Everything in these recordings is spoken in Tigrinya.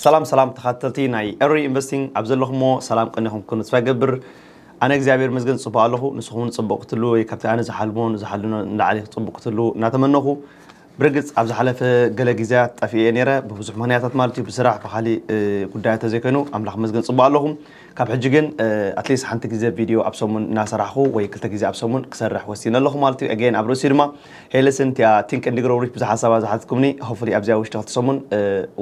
ሰላም ሰላም ተኻተልቲ ናይ ኤሪ ኢንቨስቲንግ ኣብ ዘለኹሞ ሰላም ቀኒኹም ክኩኑ ተስፋ ይገብር ኣነ እግዚኣብሔር ይመስገን ጽቡቅ ኣለኹ ንስኹም ውን ጽቡቅ ክትህልው ወይ ካብቲ ኣነ ዝሓልሞን ዝሓልኖን ንላዕሊ ጽቡቅ ክትህልው እናተመነኹ ብርግጽ ኣብ ዝሓለፈ ገለ ግዜያት ጠፊኤ ነይረ ብብዙሕ ምኽንያታት ማለት እዩ ብስራሕ ብኻሊእ ጉዳያት ተዘይኮይኑ ኣምላኽ ይመስገን ጽቡቅ ኣለኹ ካብ ሕጂ ግን ኣትሊስት ሓንቲ ግዜ ቪድዮ ኣብ ሰሙን እናሰራሕኹ ወይ ክልተ ግዜ ኣብ ሰሙን ክሰርሕ ወሲነ ኣለኹ ማለት እዩ ኣገይን ኣብ ርእሲኡ ድማ ሄልስን እቲኣ ቲንክ እንዲ ግሮው ሪች ብዙሕ ሓሳባት ዝሓትኩምኒ ሆፍሊ ኣብዚ ኣብ ውሽጢ ክልተ ሰሙን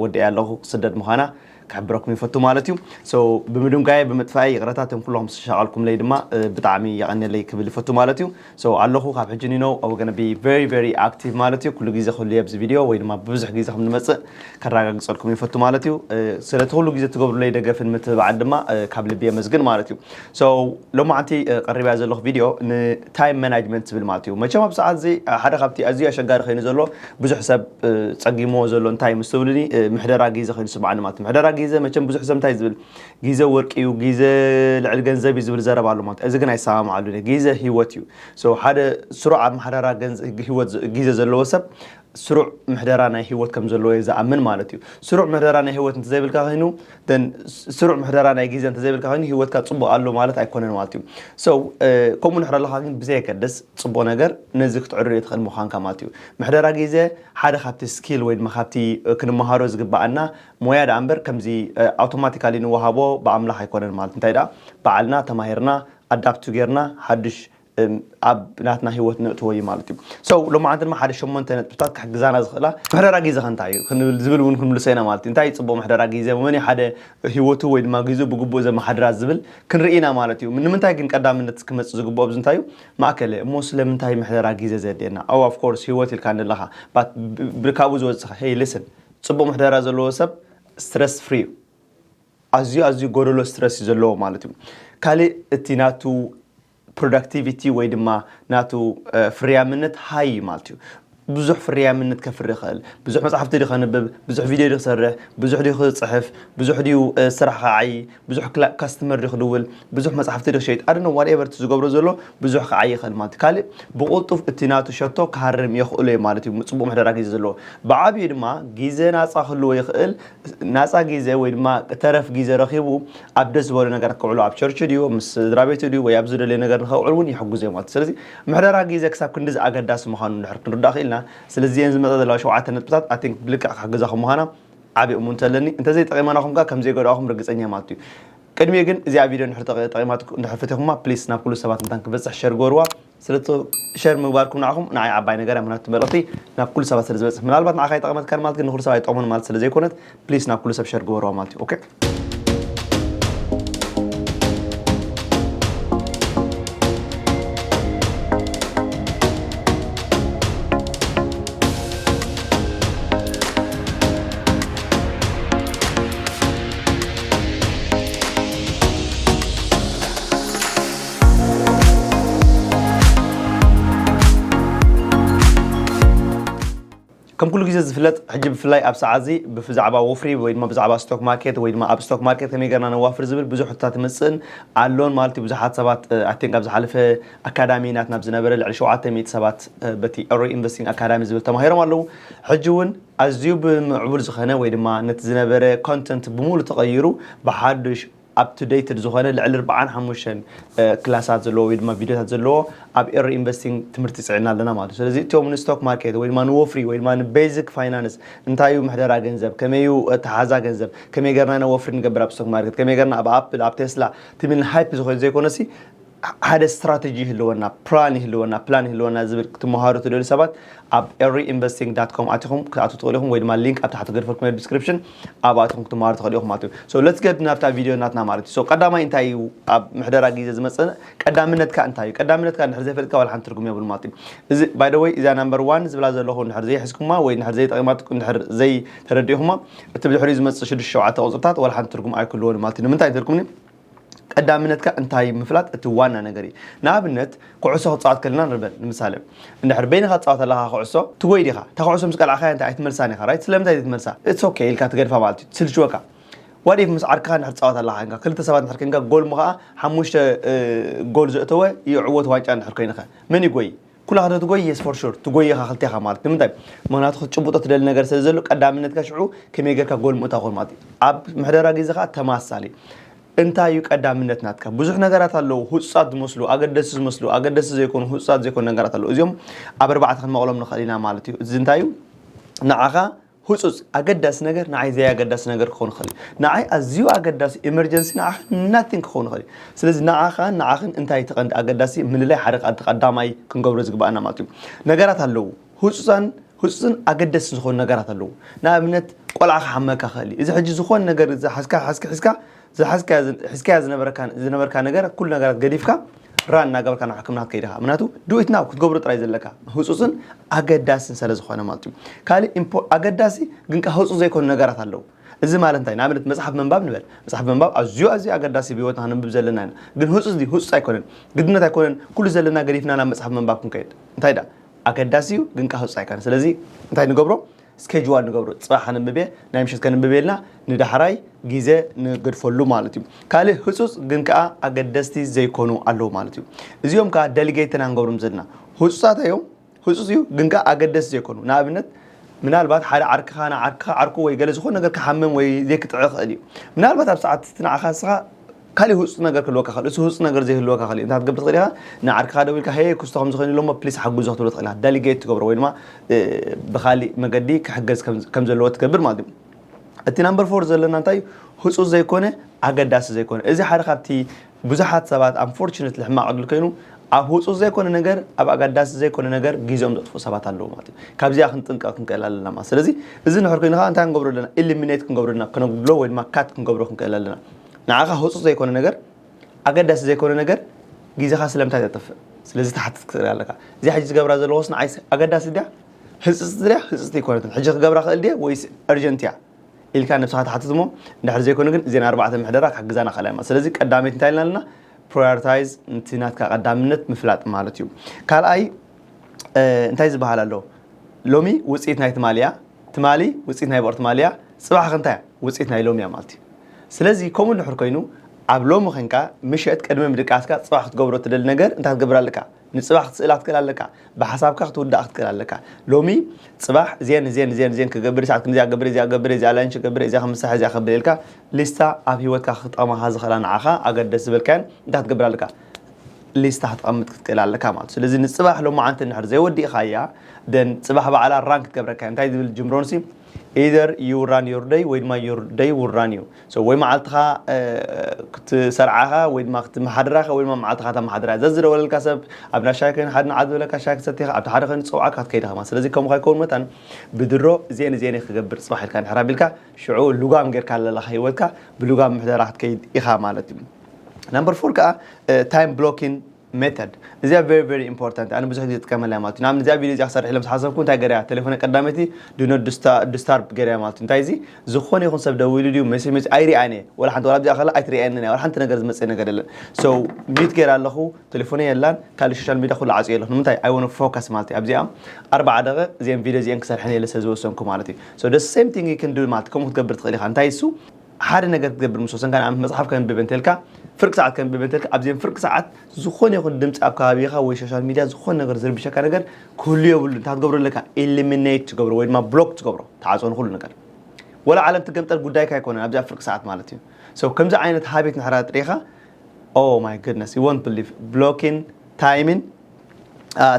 ወዲኣያ ኣለኹ ክስደድ ምዃና ክሕብረኩም ይፈቱ ማለት እዩ ሶ ብምድንጓየ ብምጥፋኤ ይቕረታ እቶም ኩልኹም ዝተሻቐልኩምለይ ድማ ብጣዕሚ የቐንየለይ ክብል ይፈቱ ማለት እዩ So ኣለኹ ካብ ሕጂ ኒኖ I will gonna be very very active ማለት እዩ ኩሉ ግዜ ክህሉ እየ ኣብዚ ቪድዮ ወይ ድማ ብብዙሕ ግዜ ከም ንመጽእ ከራጋግጸልኩም ይፈቱ ማለት እዩ ስለ እቲ ኩሉ ግዜ ትገብሩለይ ደገፍን ምትብባዕን ድማ ካብ ልቢ የመስግን ማለት እዩ So ሎማዓንቲ ቀሪባያ ዘለኹ ቪድዮ ን time management ትብል ማለት እዩ መቸም ኣብ ሰዓት እዚ ሓደ ካብቲ ኣዝዩ ኣሸጋሪ ኮይኑ ዘሎ ብዙሕ ሰብ ጸጊምዎ ዘሎ እንታይ ምስ ትብሉኒ ምሕደራ ግዜ ኮይኑ ይስምዓኒ ማለት እዩ ምሕደራ ግዜ መቸም ብዙሕ ሰብ እንታይ ዝብል ጊዘ ወርቂ እዩ ጊዘ ልዕሊ ገንዘብ እዩ ዝብል ዘረባ ኣሎ ማለት እዚ ግን ኣይሰማምዓሉን እየ ጊዘ ሂወት እዩ So ሓደ ስሩዕ ኣመሓደራ ገንዘ- ሂወት ዘ- ጊዘ ዘለዎ ሰብ ስሩዕ ምሕደራ ናይ ሂወት ከም ዘለዎ እየ ዝኣምን ማለት እዩ ስሩዕ ምሕደራ ናይ ሂወት እንተዘይብልካ ኮይኑ then ስ- ስሩዕ ምሕደራ ናይ ጊዘ እንተዘይብልካ ኮይኑ ሂወትካ ፅቡቅ ኣሎ ማለት ኣይኮነን ማለት እዩ So እ፣ ከምኡ ንሕር ኣለካ ግን ብዘየገድስ ፅቡቅ ነገር ነዚ ክትዕርዮ ትኽእል ምዃንካ ማለት እዩ ምሕደራ ጊዘ ሓደ ካብቲ ስኪል ወይ ድማ ካብቲ እ፣ ክንመሃሮ ዝግበኣና ሞያ ደኣ እምበር ከምዚ ኣውቶማቲካሊ ንወሃቦ ብኣምላኽ ኣይኮነን ማለት እንታይ ደኣ በዓልና ተማሂርና ኣዳፕት ጌርና ሓዱሽ ኣብ ናትና ሂወት ነእትዎ እዩ ማለት እዩ so ሎማዓንቲ ድማ ሓደ ሸሞንተ ነጥብታት ክሕግዛና ዝኽእላ ምሕደራ ግዜኻ እንታይ እዩ ክንብል ዝብል እውን ክንምልሶ ኢና ማለት እዩ እንታይ እዩ ጽቡቕ ምሕደራ ግዜ መን እዩ ሓደ ሂወቱ ወይ ድማ ግዜኡ ብግቡእ ዘመሓድራ ዝብል ክንርኢ ኢና ማለት እዩ ንምንታይ ግን ቀዳምነት ክመጽእ ዝግብኦ ኣብዚ እንታይ እዩ ማእከለ እሞ ስለምንታይ ምሕደራ ግዜ ዘድልየና oh of course ሂወት ኢልካኒ ኣለኻ but ካብኡ ዝወጽእ hey listen ጽቡቕ ምሕደራ ዘለዎ ሰብ ስትረስ ፍሪ እዩ። ኣዝዩ ኣዝዩ ጎደሎ ስትረስ እዩ ዘለዎ ማለት እዩ። ካልእ እቲ ናቱ ፕሮዳክቲቪቲ ወይ ድማ ናቱ ፍርያምነት ሃይ እዩ ማለት እዩ። ብዙሕ ፍርያምነት ከፍሪ ይኽእል ብዙሕ መጽሓፍቲ ዲ ከንብብ ብዙሕ ቪድዮ ዲ ክሰርሕ ብዙሕ ዲ ክጽሕፍ ብዙሕ ድዩ ስራሕ ክዓዪ ብዙሕ ካስትመር ዶ ክድውል ብዙሕ መጽሓፍቲ ዶ ክሸይጥ ኣደነ ዋትኤቨር እቲ ዝገብሮ ዘሎ ብዙሕ ክዓይ ይኽእል ማለት ካልእ ብቕልጡፍ እቲ ናቱ ሸቶ ክሃርም የኽእሎ እዩ ማለት እዩ ጽቡቕ ምሕደራ ግዜ ዘለዎ ብዓብዩ ድማ ግዜ ናጻ ክህልዎ ይኽእል ናጻ ግዜ ወይ ድማ ተረፍ ግዜ ረኺቡ ኣብ ደስ ዝበሎ ነገራት ከውዕሎ ኣብ ቸርች ድዩ ምስ ስድራ ቤቱ ድዩ ወይ ኣብ ዝደለየ ነገር ንኸውዕል እውን ይሕግዞ እዩ ማለት ስለዚ ምሕደራ ግዜ ክሳብ ክንዲዚ ኣገዳሲ ምዃኑ ድሕር ክንርዳእ ክኢልና ስለዚ እየን ዝመጻ ዘለዋ ሸውዓተ ነጥብታት ኣይ ቲንክ ብልክዕ ክሕግዛኹም ምዃና ዓቢ እሙንት ኣለኒ እንተዘይ ጠቂማናኩም ከኣ ከም ዘይጎድኣኩም ርግጸኛ ማቱ እዩ ቅድሚኡ ግን እዚኣ ቪድዮ እንድሕር ጠቂማትኩም እንድሕር ፈቲኩማ ፕሊስ ናብ ኩሉ ሰባት እንታን ክበጽሕ ሸር ግበርዋ ስለቶ ሸር ምግባርኩም ንዓኹም ንዓይ ዓባይ ነገር እያ ምክንያቱ መልእኽቲ ናብ ኩሉ ሰባት ስለ ዝበጽሕ ምናልባት ንዓኻ ይጠቕመትካን ማለት ግን ንኹሉ ሰብ ኣይጠቕሙን ማለት ስለ ዘይኮነት ፕሊስ ናብ ኩሉ ሰብ ሸር ግበርዋ ማለት እዩ ኦኬ ከም ኩሉ ግዜ ዝፍለጥ ሕጂ ብፍላይ ኣብ ሰዓት እዚ ብዛዕባ ወፍሪ ወይ ድማ ብዛዕባ ስቶክ ማርኬት ወይ ድማ ኣብ ስቶክ ማርኬት ከመይ ገርና ነዋፍር ዝብል ብዙሕ ሕቶታት ይመፅእን ኣሎን ማለት እዩ ብዙሓት ሰባት ኣይ ቲንክ ኣብ ዝሓለፈ ኣካዳሚ ናትና ብዝነበረ ልዕሊ ሸውዓተ ሚእቲ ሰባት በቲ Ori Investing Academy ዝብል ተማሂሮም ኣለዉ። ሕጂ እውን ኣዝዩ ብምዕቡል ዝኸነ ወይ ድማ ነቲ ዝነበረ Content ብሙሉ ተቐይሩ ብሓዱሽ Up to Dated ዝኾነ ልዕሊ ርብዓን ሓሙሽተን ክላሳት ዘለዎ ወይ ድማ ቪድዮታት ዘለዎ ኣብ Ori Investing ትምህርቲ ጽዒና ኣለና ማለት እዩ። ስለዚ እቶም ን Stock Market ወይ ድማ ን ወፍሪ ወይ ድማ ን Basic Finance እንታይ እዩ ምሕደራ ገንዘብ፣ ከመይ እዩ ኣተሓሕዛ ገንዘብ፣ ከመይ ጌርና ኢና ወፍሪ ንገብር ኣብ Stock Market፣ ከመይ ጌርና ኣብ Apple፣ ኣብ Tesla ትብል ን Hype ዝኾነት ዘይኮነሲ፣ ሓደ ስትራተጂ ይህልወና፣ ፕራን ይህልወና፣ ፕላን ይህልወና ዝብል ክትመሃሩ ትደልዩ ሰባት ኣብ Eriinvesting dot com ኣቲኹም ክትኣትዉ ትኽእሉ ኢኹም ወይ ድማ ሊንክ ኣብ ታሕቲ ክገድፈልኩም እየ Description ኣብኡ ኣቲኹም ክትመሃሩ ትኽእሉ ኢኹም ማለት እዩ። So let's get ናብታ ቪድዮ ናትና ማለት እዩ። So ቀዳማይ እንታይ እዩ ኣብ ምሕደራ ግዜ ዝመጽእ ቀዳምነትካ እንታይ እዩ? ቀዳምነትካ እንድሕር ዘይፈሊጥካ ዋላ ሓንቲ ትርጉም የብሉን ማለት እዩ። እዚ by the way እዚኣ number one ዝብላ ዘለኹ እንድሕር ዘይሒዝኩማ ወይ እንድሕር ዘይጠቒማትኩም እንድሕር ዘይተረዲእኹማ እቲ ብድሕሪኡ ዝመጽእ ሽዱሽተ ሸውዓተ ቁጽርታት ዋላ ሓንቲ ትርጉም ኣይክህልዎን እዩ ማለት እዩ። ንምንታይ እንተልኩምኒ ቀዳምነትካ እንታይ ምፍላጥ እቲ ዋና ነገር እዩ ንኣብነት ኩዕሶ ክትፃወት ከለና ንርበል ንምሳሌ እንድሕር በይንካ ትፃወት ኣለካ ኩዕሶ ትጎይ ዲካ እታ ኩዕሶ ምስ ቀላዕካያ እንታይ ኣይትመልሳን ኢካ ራይት ስለምንታይ ዘይትመልሳ its ok ኢልካ ትገድፋ ማለት እዩ ትስልችወካ what if ምስ ዓርክኻ እንድሕር ትፃወት ኣለካ ኮንካ ክልተ ሰባት እንድሕር ኮንካ ጎል ምኸኣ ሓሙሽተ ጎል ዘእተወ ይዕወት ዋንጫ እንድሕር ኮይንኸ መን ይጎይ ኩላኻ ዶ ትጎይ የስ ፎር ሹር ትጎይ ኢኻ ክልቴኻ ማለት ንምንታይ ምክንያቱ ክትጭብጦ ትደሊ ነገር ስለ ዘሎ ቀዳምነትካ ሽዑ ከመይ ጌርካ ጎል ምእታ ኮን ማለት እዩ ኣብ ምሕደራ ግዜ ከዓ ተማሳሊ እንታይ እዩ ቀዳምነት ናትካ ብዙሕ ነገራት ኣለዉ ህፁፃት ዝመስሉ ኣገደሲ ዝመስሉ ኣገደሲ ዘይኮኑ ህፁፃት ዘይኮኑ ነገራት ኣለዉ እዚኦም ኣብ ኣርባዕተ ክንመቕሎም ንኽእል ኢና ማለት እዩ እዚ እንታይ እዩ ንዓኻ ህጹጽ፣ ኣገዳሲ ነገር ንዓይ ዘይኣገዳሲ ነገር ክኸውን ይኽእል እዩ። ንዓይ ኣዝዩ ኣገዳሲ፣ ኢመርጀንሲ፣ ንዓኻ nothing ክኸውን ይኽእል እዩ። ስለዚ ንዓኻን ንዓኽን እንታይ እዩ እቲ ቀንዲ ኣገዳሲ ምልላይ ሓደ ካብቲ ቀዳማይ ክንገብሮ ዝግብኣና ማለት እዩ። ነገራት ኣለዉ ህጹጻን ህጹጽን ኣገደስትን ዝኾኑ ነገራት ኣለዉ። ንኣብነት ቆልዓ ክሓመካ ይኽእል እዩ። እዚ ሕጂ ዝኾነ ነገር ዝሓዝካ ሓዝኪ ሒዝካ ዝሓዝካዮ ሒዝካያ ዝነበረካ ዝነበርካ ነገር ኩሉ ነገራት ገዲፍካ ራን እናገበርካ ናብ ሕክምና ክትከይድ ኢኻ ምክንያቱ ዱኢት ናው ክትገብሮ ጥራይ ዘለካ ህፁፅን ኣገዳስን ስለ ዝኾነ ማለት እዩ ካልእ ኣገዳሲ ግን ከ ህፁፅ ዘይኮኑ ነገራት ኣለዉ እዚ ማለት እንታይ ንኣብነት መፅሓፍ ምንባብ ንበል መፅሓፍ ምንባብ ኣዝዩ ኣዝዩ ኣገዳሲ ብሂወትና ክንብብ ዘለና ኢና ግን ህፁፅ ድዩ ህፁፅ ኣይኮነን ግድነት ኣይኮነን ኩሉ ዘለና ገዲፍና ናብ መፅሓፍ ምንባብ ክንከይድ እንታይ ደኣ ኣገዳሲ እዩ ግን ከ ህፁፅ ኣይኮነን ስለዚ እንታይ ንገብሮ ስኬጁዋል ንገብሮ ፅባሕ ከነንብብ እየ ናይ ምሸት ከነንብብ ኢልና ንዳሕራይ ግዜ ንገድፈሉ ማለት እዩ ካልእ ህፁፅ ግን ከዓ ኣገደስቲ ዘይኮኑ ኣለዉ ማለት እዩ እዚኦም ከዓ ደሊጌት ኢና ንገብሮም ዘለና ህፁፃት እዮም ህፁፅ እዩ ግን ከዓ ኣገደስቲ ዘይኮኑ ንኣብነት ምናልባት ሓደ ዓርክኻ ንዓርክኻ ዓርኩ ወይ ገለ ዝኾነ ነገር ክሓምም ወይ ዘይክጥዕ ይኽእል እዩ ምናልባት ኣብ ሰዓት እቲ ንዓኻ ንስኻ ካሊእ ህጹጽ ነገር ክህልወካ ይኽእል። እቲ ህጹጽ ነገር ዘይህልወካ ካሊእ እንታይ ክትገብር ትኽእል ኢኻ? ንዓርክኻ ደዊልካ ሄይ ኩስቶ ከምዚ ኮይኑ'ሎ እሞ ፕሊስ ሓግዞ ክትብሎ ትኽእል ኢኻ። ደሊጌት ትገብሮ ወይ ድማ ብካሊእ መገዲ ክሕገዝ ከም ዘለዎ ትገብር ማለት እዩ። እቲ ናምበር ፎር ዘለና እንታይ እዩ? ህጹጽ ዘይኮነ ኣገዳሲ ዘይኮነ። እዚ ሓደ ካብቲ ብዙሓት ሰባት ኣንፎርቹነትሊ ሕማቕ ዕድል ኮይኑ ኣብ ህጹጽ ዘይኮነ ነገር ኣብ ኣገዳሲ ዘይኮነ ነገር ግዜኦም ዘጥፍኡ ሰባት ኣለዉ ማለት እዩ። ካብዚኣ ክንጥንቀቕ ክንክእል ኣለና ማለት። ስለዚ እዚ እንድሕር ኮይኑ ከኣ እንታይ ክንገብሮ ኣለና? ኢሊሚኔት ክንገብሮ ኣለና፣ ከነጉድሎ ወይ ድማ ካት ክንገብሮ ክንክእል ኣለና። ንዓኻ ህጹጽ ዘይኮነ ነገር፣ ኣገዳሲ ዘይኮነ ነገር ግዜኻ ስለምንታይ ተጥፍእ ስለዚ ትሓትት ክትርኢ ኣለካ። እዚኣ ሕጂ ዝገብራ ዘለኹስ ንዓይስ ኣገዳሲት ድያ ህጽጽቲ ድያ ህጽጽቲ ኣይኮነትን ሕጂ ክገብራ ክእል ድየ ወይስ Urgent እያ ኢልካ ነብስኻ ትሓትት እሞ እንድሕር ዘይኮነ ግን እዘን ኣርባዕተ ምሕደራ ክሕግዛና ክእላ እየን ማለት ስለዚ ቀዳመይቲ እንታይ ኢልና ኣለና ፕራዮርታይዝ ንቲ ናትካ ቀዳምነት ምፍላጥ ማለት እዩ ካልኣይ እንታይ ዝበሃል ኣሎ ሎሚ ውፅኢት ናይ ትማሊ እያ ትማሊ ውፅኢት ናይ ብቕር ትማሊ እያ ጽባሕ ከ እንታይ እያ ውጽኢት ናይ ሎሚ ኣማልቲ? ስለዚ ከምኡ እንድሕር ኮይኑ ኣብ ሎሚ ኮንካ ምሸት ቅድሚ ምድቃስካ ጽባሕ ክትገብሮ እትደሊ ነገር እንታይ ክትገብር ኣለካ? ንጽባሕ ክትስእላ ክትክእል ኣለካ። ብሓሳብካ ክትውድኣ ክትክእል ኣለካ። ሎሚ ጽባሕ እዚኤን እዚኤን እዚኤን እዚኤን ክገብር ሰዓት ክንደይ እዚኣ ክገብር እየ እዚኣ ክገብር እየ እዚኣ ላንች ክገብር እየ እዚኣ ከም መሳርሒ እዚኣ ከብል ኢልካ ሊስታ ኣብ ሂወትካ ክጠቅማካ ዝክእላ ንዓካ ኣገደስቲ ዝበልካየን እንታይ ክትገብር ኣለካ? ሊስታ ክትቀምጥ ክትክእል ኣለካ ማለት እዩ። ስለዚ ንጽባሕ ሎማዓንቲ እንድሕር ዘይወዲእካያ ደን ጽባሕ ባዕላ ራን ክትገብረካ እያ እንታይ ዝብል ጂም ሮንሲ Either you run your day ወይ ድማ your day will run you so ወይ መዓልትኻ ክትሰርዓ ኢኻ ወይ ድማ ክትመሓድራ ኢኻ ወይ ድማ መዓልትኻ ተመሓድራ እያ ዘዝደወለልካ ሰብ ኣብ እንዳ ሻሂ ከይን ሓደ ንዓት ዝበለካ ሻሂ ክትሰቲ ኢኻ ኣብቲ ሓደ ከይኑ ዝፀውዓካ ክትከይድ ኢኻ ማለት ስለዚ ከምኡ ከይከውን መታን ብድሮ እዚኤን እዚኤን ክገብር ፅባሕ ኢልካ ንሕር ኣቢልካ ሽዑ ልጓም ጌርካ ለለኻ ሂወትካ ብልጓም ምሕደራ ክትከይድ ኢኻ ማለት እዩ ናምበር ፎር ከዓ ታይም ብሎኪን Method እዚኣ very very important እያ ኣነ ብዙሕ ግዜ ዝጥቀመላ እየ ማለት እዩ ንኣብነት እዚኣ ቪድዮ እዚኣ ክሰርሕ ኢለ ምስ ሓሰብኩ እንታይ ገይረያ ቴሌፎነይ ቀዳመይቲ do not disturb- disturb ገይረያ ማለት እዩ እንታይ እዚ ዝኾነ ይኹን ሰብ ደዊሉ ድዩ ሜሴጅ መፂኡ ኣይሪኣን እየ ዋላ ሓንቲ ዋላ ኣብዚኣ ከላ ኣይትሪኣየንን እያ ዋላ ሓንቲ ነገር ዝመፅእ ነገር የለን so mute ገይረ ኣለኹ ቴሌፎነይ የላን ካልእ ሶሻል ሚድያ ኩሉ ዓፅየ ኣለኹ ንምንታይ i wanna focus ማለት እዩ ኣብዚኣ ኣርባዓ ደቒቕ እዚኤን ቪድዮ እዚኤን ክሰርሐን እየ ኢለ ስለዝወሰንኩ ማለት እዩ so the same thing you can do ማለት እዩ ከምኡ ክትገብር ትኽእል ኢኻ እንታይ እሱ ሓደ ነገር ክትገብር ምስ ወሰንካ ንኣብነት መጽሓፍ ከንብብ እንተልካ ፍርቂ ሰዓት ከንብብ እንተልካ ኣብዘን ፍርቂ ሰዓት ዝኾነ ይኹን ድምጺ ኣብ ከባቢኻ ወይ ሶሻል ሚድያ ዝኾነ ነገር ዝርብሸካ ነገር ክህሉ የብሉ እንታይ ትገብሮ ኣለካ ኢሊሚኔት ትገብሮ ወይ ድማ ብሎክ ትገብሮ ተዓጾ ንኹሉ ነገር ወላ ዓለም ትገምጠል ጉዳይካ ኣይኮነን ኣብዚ ኣብ ፍርቂ ሰዓት ማለት እዩ ሰው ከምዚ ዓይነት ሃቤት ንሕራ ጥሪኻ ኦ ማይ ጉድነስ ዩ ወንት ብሊቭ ብሎኪን ታይምን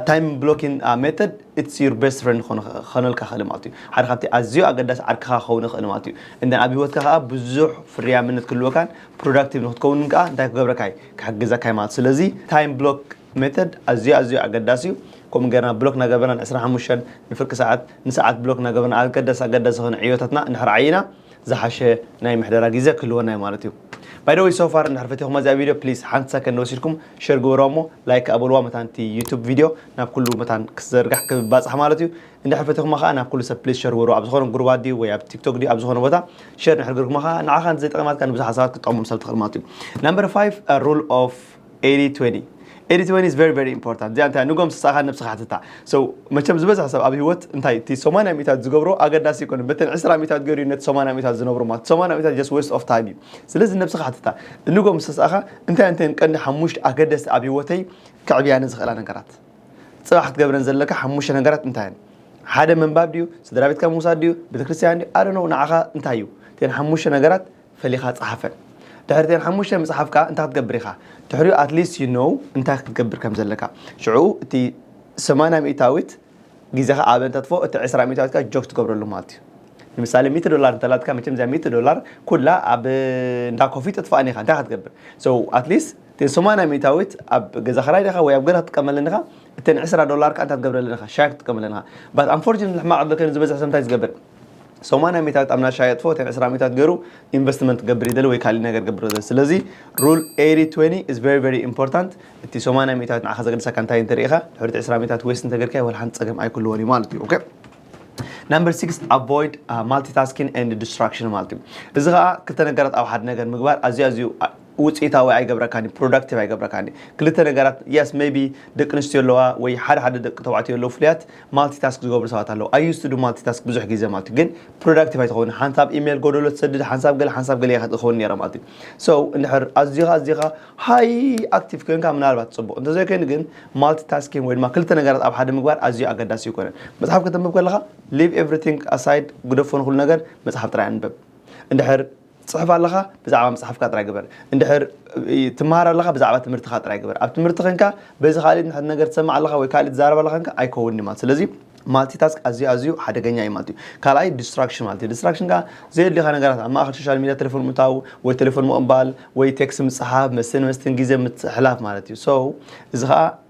ታይም ብሎኪን ሜተድ ኢትስ ዩር ቤስት ፍሬንድ ክኾነልካ ክእል ማለት እዩ ሓደ ካብቲ ኣዝዩ ኣገዳሲ ዓርክኻ ክኸውን ይኽእል ማለት እዩ እንደ ኣብ ሂወትካ ከዓ ብዙሕ ፍርያምነት ክህልወካን ፕሮዳክቲቭ ንክትከውንን ከዓ እንታይ ክገብረካ እዩ ክሕግዘካ እዩ ማለት ስለዚ ታይም ብሎክ ሜተድ ኣዝዩ ኣዝዩ ኣገዳሲ እዩ ከምኡ ገርና ብሎክ እናገበርና ን25 ንፍርቂ ሰዓት ንሰዓት ብሎክ እናገበርና ኣገዳሲ ኣገዳሲ ዝኾነ ዕዮታትና እንድሕር ዓይና ዝሓሸ ናይ ምሕደራ ግዜ ክህልወና እዩ ማለት እዩ ባይ ዘ ወይ ሶ ፋር እንድሕር ፈቲኹማ እዚኣ ቪድዮ ፕሊስ ሓንቲ ሰከንድ ወሲድኩም ሸር ግበሩዋ እሞ ላይክ ከኣ በሉዋ መታን እቲ ዩቱብ ቪድዮ ናብ ኩሉ መታን ክዘርጋሕ ክባጻሕ ማለት እዩ እንድሕር ፈቲኹማ ከኣ ናብ ኩሉ ሰብ ፕሊስ ሸር ግበሩዋ ኣብ ዝኾነ ጉሩባት ድዩ ወይ ኣብ ቲክቶክ ድዩ ኣብ ዝኾነ ቦታ ሸር እንድሕር ገርኩማ ከኣ ንዓኻ እንተዘይጠቒማትካ ንብዙሓት ሰባት ክትጠቕሞም ሰብ ትኽእል ማለት እዩ ናምበር 5 ሩል ኦፍ 80-20 80-20 is very very important እዚኣ እንታይ ንጎም ስሳኻ ነብስኻ ሕትታ so መቸም ዝበዝሕ ሰብ ኣብ ህይወት እንታይ እቲ 80 ሚእታት ዝገብሮ ኣገዳሲ ይኮነ በተን 20 ሚእታት ገይሩ ነቲ 80 ሚእታት ዝነብሩ ማለት 80 ሚእታት just waste of time እዩ ስለዚ ነብስኻ ሕትታ ንጎም ስሳኻ እንታይ እንተን ቀንዲ ሓሙሽተ ኣገደስቲ ኣብ ህይወተይ ከዕብያኒ ዝኽእላ ነገራት ጽባሕ ክትገብረን ዘለካ ሓሙሽተ ነገራት እንታይ እየን ሓደ ምንባብ ድዩ ስድራ ቤትካ ምውሳድ ድዩ ቤተክርስትያን ድዩ ኣረ ነው ንዓኻ እንታይ እዩ እተን ሓሙሽተ ነገራት ፈሊኻ ጸሓፈን ድሕሪ እተን ሓሙሽተ ምጽሓፍ ከኣ እንታይ ክትገብር ኢኻ ድሕሪኡ at least you know እንታይ ክትገብር ከም ዘለካ ሽዑ እቲ ሰማንያ ሚእታዊት ግዜኻ ኣብ እንተጥፎ እቲ ዕስራ ሚእታዊት ከኣ ጆክ ትገብረሉ ማለት እዩ ንምሳሌ ሚእቲ ዶላር እንተላትካ መቸም እዚኣ ሚእቲ ዶላር ኩላ ኣብ እንዳ ኮፊ ተጥፍኣን ኢኻ እንታይ ኢኻ ትገብር so at least እተን ሰማንያ ሚእታዊት ኣብ ገዛ ክራይ ዲኻ ወይ ኣብ ገዛ ክትጥቀመለን ኢኻ እተን ዕስራ ዶላር ከኣ እንታይ ትገብረለን ኢኻ ሻሂ ክትጥቀመለን ኢኻ but unfortunately ሕማቕ ዕድል ኮይኑ ዝበዝሕ ሰብ እንታይ እዩ ዝገብር ሰማንያ ሚታት ኣብ ናሻ የጥፎ እተን ዕስራ ሚታት ገሩ ኢንቨስትመንት ክገብር ይደሊ ወይ ካሊእ ነገር ክገብር ይደሊ ስለዚ ሩል ኤሪ ትዌኒ ኢዝ ቨሪ ቨሪ ኢምፖርታንት እቲ ሰማንያ ሚታት ንዓኻ ዘገድሰካ እንታይ እንተሪኢኻ ድሕሪቲ ዕስራ ሚታት ዌስት እንተገርካዮ ዋላ ሓንቲ ጸገም ኣይክልዎን እዩ ማለት እዩ ኦኬ ናምበር ሲክስ ኣቮይድ ማልቲታስኪን ኤንድ ዲስትራክሽን ማለት እዩ እዚ ከዓ ክልተ ነገራት ኣብ ሓደ ነገር ምግባር ኣዝዩ ኣዝዩ ውጽኢታዊ ኣይገብረካን እዩ ፕሮዳክቲቭ ኣይገብረካን እዩ ክልተ ነገራት የስ ሜቢ ደቂ ኣንስትዮ ኣለዋ ወይ ሓደ ሓደ ደቂ ተባዕትዮ ኣለዉ ፍሉያት ማልቲ ታስክ ዝገብሩ ሰባት ኣለዉ ኣይ ዩስ ቱ ዱ ማልቲ ታስክ ብዙሕ ግዜ ማለት እዩ ግን ፕሮዳክቲቭ ኣይትኸውን ሓንሳብ ኢሜል ጎደሎ ትሰድድ ሓንሳብ ገለ ሓንሳብ ገለ ኢኻ ትኸውን ነይረ ማለት እዩ ሶ እንድሕር ኣዝኻ ኣዝኻ ሃይ ኣክቲቭ ኮይንካ ምናልባት ጽቡቕ እንተዘይኮይኑ ግን ማልቲ ታስኪንግ ወይ ድማ ክልተ ነገራት ኣብ ሓደ ምግባር ኣዝዩ ኣገዳሲ ኣይኮነን መጽሓፍ ከተንብብ ከለኻ ሊቭ ኤቭሪቲንግ ኣሳይድ ግደፎ ንኹሉ ነገር መጽሓፍ ጥራይ ኣንብብ እንድሕር ትጽሕፍ ኣለኻ ብዛዕባ መጽሓፍካ ጥራይ ግበር እንድሕር ትመሃር ኣለኻ ብዛዕባ ትምህርትኻ ጥራይ ግበር ኣብ ትምህርቲ ከንካ በዚ ካልእ ንሕድ ነገር ትሰምዕ ኣለኻ ወይ ካልእ ትዛረብ ኣለኻ ከንካ ኣይከውን እዩ ማለት ስለዚ ማልቲ ታስክ ኣዝዩ ኣዝዩ ሓደገኛ እዩ ማለት እዩ ካልኣይ ዲስትራክሽን ማለት እዩ ዲስትራክሽን ከዓ ዘየድልኻ ነገራት ኣብ ማእኸል ሶሻል ሚዲያ ቴሌፎን ምታው ወይ ቴሌፎን ምቕባል ወይ ቴክስ ምፅሓፍ መስትን መስትን ግዜ ምትሕላፍ ማለት እዩ ሶ እዚ ከዓ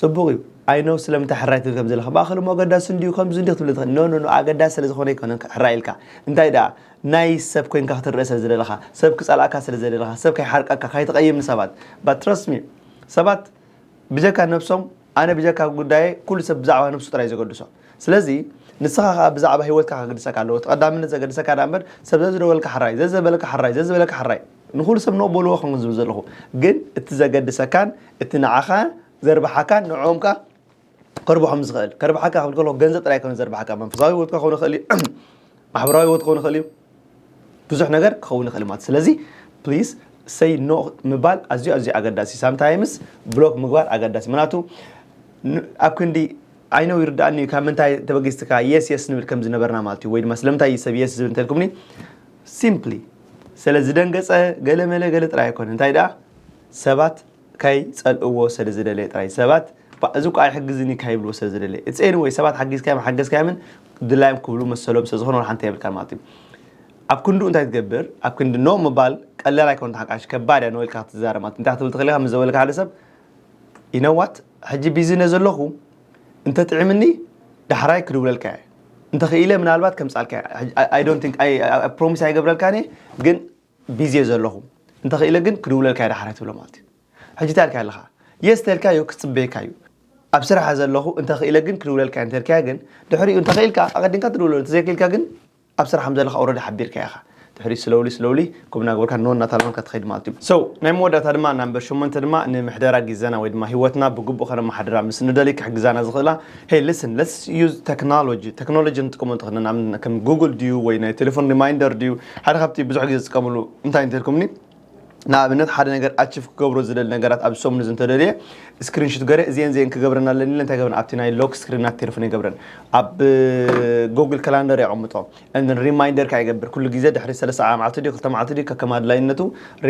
ጽቡቅ እዩ ኣይ ኖው ስለምንታይ ሕራይ ትብል ከም ዘለካ ብኣክል እሞ ኣገዳሲ እንድዩ ከምዚ እንድዩ ክትብል ትክእል ኖ ኖ ኖ ኣገዳሲ ስለ ዝኮነ ኣይኮነን ሕራይ ኢልካ እንታይ ደኣ ናይ ሰብ ኮይንካ ክትረኣ ስለ ዝደለካ ሰብ ክጸልኣካ ስለ ዘይደለካ ሰብ ከይሓርቀካ ካይትቀይም ንሰባት ባት ትረስት ሚ ሰባት ብጀካ ነብሶም ኣነ ብጀካ ጉዳየይ ኩሉ ሰብ ብዛዕባ ነብሱ ጥራይ ዘገድሶ ስለዚ ንስኻ ከኣ ብዛዕባ ሂወትካ ከግድሰካ ኣለዎ እቲ ቀዳምነት ዘገድሰካ ደኣ እምበር ሰብ ዘዝደወልካ ሕራይ ዘዝበለካ ሕራይ ዘዝበለካ ሕራይ ንኹሉ ሰብ ኖእ በልዎ ከም ዝብል ዘለኹ ግን እቲ ዘገድሰካን እቲ ንዓኻ ዘርብሓካን ንዕኦም ከኣ ከርብሖም ዝኽእል ከርብሓካ ክብል ከለኹ ገንዘብ ጥራይ ከም ዘርብሓካ መንፈሳዊ ህይወትካ ክኸውን ይኽእል እዩ ማሕበራዊ ህይወት ክኸውን ይኽእል እዩ ብዙሕ ነገር ክኸውን ይኽእል ማለት ስለዚ ፕሊስ ሰይ ኖ ምባል ኣዝዩ ኣዝዩ ኣገዳሲ ሳምታይምስ ብሎክ ምግባር ኣገዳሲ ምክንያቱ ኣብ ክንዲ ዓይነው ይርዳእኒ እዩ ካብ ምንታይ ተበጊስትካ የስ የስ ንብል ከም ዝነበርና ማለት እዩ ወይ ድማ ስለምንታይ ሰብ የስ ዝብል እንተልኩምኒ ሲምፕሊ ሰለ ዝደንገጸ ገለ መለ ገለ ጥራይ ኣይኮነ እንታይ ደኣ ሰባት ካይ ጸልእዎ ሰለ ዝደለየ ጥራይ ሰባት ባ እዚ እኮ ኣይሕግዝን እዩ ካይብልዎ ሰለ ዝደለየ it's anyway ሰባት ሓጊዝካዮም ሓገዝካዮምን ድላዮም ክብሉ መሰሎም ስለ ዝኾነ ወላ ሓንቲ የብልካን ማለት እዩ ኣብ ክንድኡ እንታይ ትገብር ኣብ ክንዲ ኖ ምባል ቀላል ኣይኮነ ተሓቃሽ ከባድ እያ ኖ ኢልካ ክትዛረብ ማለት እንታይ ክትብል ትኽእል ኢኻ ምስ ዘበለካ ሓደ ሰብ ይነዋት ሕጂ ቢዚ ነዘለኹ እንተ ጥዒምኒ ዳሕራይ ክድውለልካ እየ እንተ ክኢለ ምናልባት ከምጻልካ ኣይ ዶንት ቲንክ ኣይ ፕሮሚስ ኣይገብረልካን እየ ግን ቢዚ እየ ዘለኹ እንተ ክኢለ ግን ክድውለልካ እየ ዳሕራይ ትብሎ ማለት እዩ ሕጂ እንታይ ኢልካ ኣለኻ የስ ተልካዮ ክጽበየካ እዩ ኣብ ስራሕ ዘለኹ እንተ ክኢለ ግን ክድውለልካ እየ እንተ ኢልካዮ ግን ድሕሪኡ እንተ ክኢልካ ኣቐዲምካ ትድውለሉ እንተ ዘይክኢልካ ግን ኣብ ስራሕ ከምዘለካ ኦረዲ ሓቢርካዮ ኢኻ ድሕሪኡ ስለውሊ ስለውሊ ክብ ናገበርካ ኖ እናታለምካ ትኸይድ ማለት እዩ so ናይ መወዳእታ ድማ ናምበር ሸሞንተ ድማ ንምሕደራ ጊዘና ወይ ድማ ሂወትና ብግቡእ ከነመሓድራ ምስ ንደሊ ክሕግዛና ዝኽእላ hey listen let's use technology ተክኖሎጂ ንጥቀሞ እንተኾይና ንኣብነት ከም ጉጉል ድዩ ወይ ናይ ቴሌፎን ሪማይንደር ድዩ ሓደ ካብቲ ብዙሕ ጊዜ ዝጥቀምሉ እንታይ እንተልኩምኒ ንኣብነት ሓደ ነገር ኣችፍ ክገብሮ ዝደሊ ነገራት ኣብዚ ሰሙን እዚ እንተደልየ ስክሪንሹት ገረ እዚን እዚን ክገብረን ኣለኒ ኢለ እንታይ ገብረን ኣብቲ ናይ ሎክ ስክሪን ናት ቴሌፎን ይገብረን ኣብ ጎግል ካላንደር የቐምጦ እን ሪማይንደር ከዓ ይገብር ኩሉ ግዜ ድሕሪ ሰለስተ መዓልቲ ድዩ ክልተ መዓልቲ ድዩ ከከም ኣድላይነቱ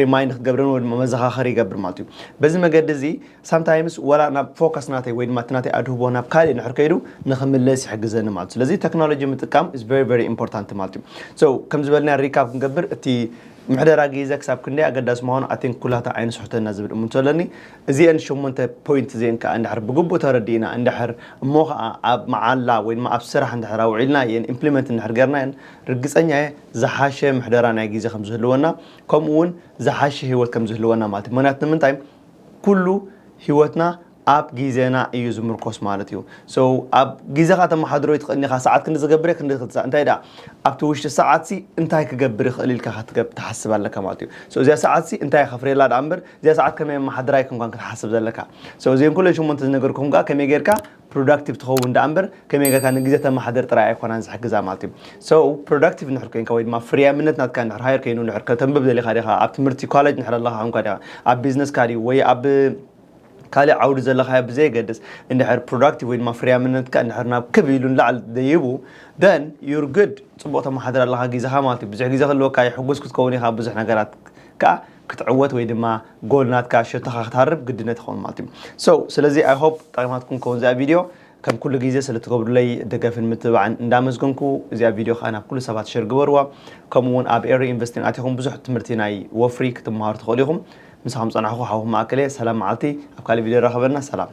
ሪማይንድ ክትገብረን ወይ ድማ መዘኻኸሪ ይገብር ማለት እዩ በዚ መገዲ እዚ ሳምታይምስ ወላ ናብ ፎከስ ናተይ ወይ ድማ እቲ ናተይ ኣድህቦ ናብ ካልእ ንድሕር ከይዱ ንክምለስ ይሕግዘኒ ማለት እዩ ስለዚ ቴክኖሎጂ ምጥቃም ኢዝ ቨሪ ቨሪ ኢምፖርታንት ማለት እዩ ሶ ከም ዝበልና ሪካፕ ክንገብር እቲ ምሕደራ ጊዘ ክሳብ ክንደይ ኣገዳሲ ምዃኑ I think ኩላታ ዓይኒ ስሑተና ዝብል እምንቶ ኣለኒ። እዚኤን ሸሞንተ ፖይንት እዚኤን ከኣ እንድሕር ብግቡእ ተረዲእና እንድሕር እሞ ከኣ ኣብ መዓላ ወይ ድማ ኣብ ስራሕ እንድሕር ኣውዒልናየን ኢምፕሊመንት እንድሕር ጌርናየን ርግጸኛ እየ ዝሓሸ ምሕደራ ናይ ጊዘ ከም ዝህልወና ከምኡ ውን ዝሓሸ ሂወት ከም ዝህልወና ማለት እዩ። ምኽንያቱ ንምንታይ ኩሉ ሂወትና ኣብ ጊዘና እዩ ዝምርኮስ ማለት እዩ so ኣብ ጊዘኻ ተማሓድሮ ኣይትኽእልን ኢኻ ሰዓት ክንዲ ዝገብር እየ ክንዲ ክትሳእ እንታይ ደኣ ኣብቲ ውሽጢ ሰዓት ሲ እንታይ ክገብር ይኽእል ኢልካ ክትገብ ትሓስብ ኣለካ ማለት እዩ so እዚኣ ሰዓት ሲ እንታይ ከፍርየላ ደኣ እምበር እዚኣ ሰዓት ከመይ ኣማሓድራ ኣይኮንካን እንኳን ክትሓስብ ዘለካ so እዚኤን ኩለን ሸሞንተ ዝነገርኩም ከኣ ከመይ ጌርካ ፕሮዳክቲቭ ትኸውን ደኣ እምበር ከመይ ጌርካ ንግዜ ተማሓድር ጥራይ ኣይኮናን ዝሕግዛ ማለት እዩ so ፕሮዳክቲቭ ንድሕር ኮንካ ወይ ድማ ፍርያምነት ናትካ ንድሕር ሃየር ኮይኑ ንድሕር ከተንብብ ደሊኻ ዲኻ ኣብ ትምህርቲ ኮሌጅ ንድሕር ኣለኻ ኮንካ ዲኻ ኣብ ቢዝነስካ ድዩ ወይ ኣብ ካልእ ዓውዲ ዘለኻዮ ብዘየገድስ እንድሕር ፕሮዳክቲቭ ወይ ድማ ፍርያምነትካ እንድሕር ናብ ክብ ኢሉ ንላዕሊ ደይቡ ደን ዩር ግድ ጽቡቕ ተመሓድር ኣለኻ ግዜኻ ማለት እዩ ብዙሕ ግዜ ክህልወካ እዩ ሕጉስ ክትከውን ኢኻ ብዙሕ ነገራት ከዓ ክትዕወት ወይ ድማ ጎል ናትካ ሸቶኻ ክትሃርብ ግድነት ይኸውን ማለት እዩ ሶ ስለዚ ኣይ ሆፕ ጠቂማትኩም ከውን እዚኣ ቪድዮ ከም ኩሉ ግዜ ስለ ትገብሩለይ ደገፍን ምትብባዕን እንዳመስገንኩ እዚኣ ቪድዮ ከኣ ናብ ኩሉ ሰባት ሸር ግበርዋ ከምኡ እውን ኣብ ኤሪ ኢንቨስቲንግ ኣቲኹም ብዙሕ ትምህርቲ ናይ ወፍሪ ክትመሃሩ ትኽእሉ ኢኹም ምሳኹም ዝጸናሕኩ ሓውኹም ማእከል እየ ሰላም መዓልቲ ኣብ ካልእ ቪድዮ ይራኸበና ሰላም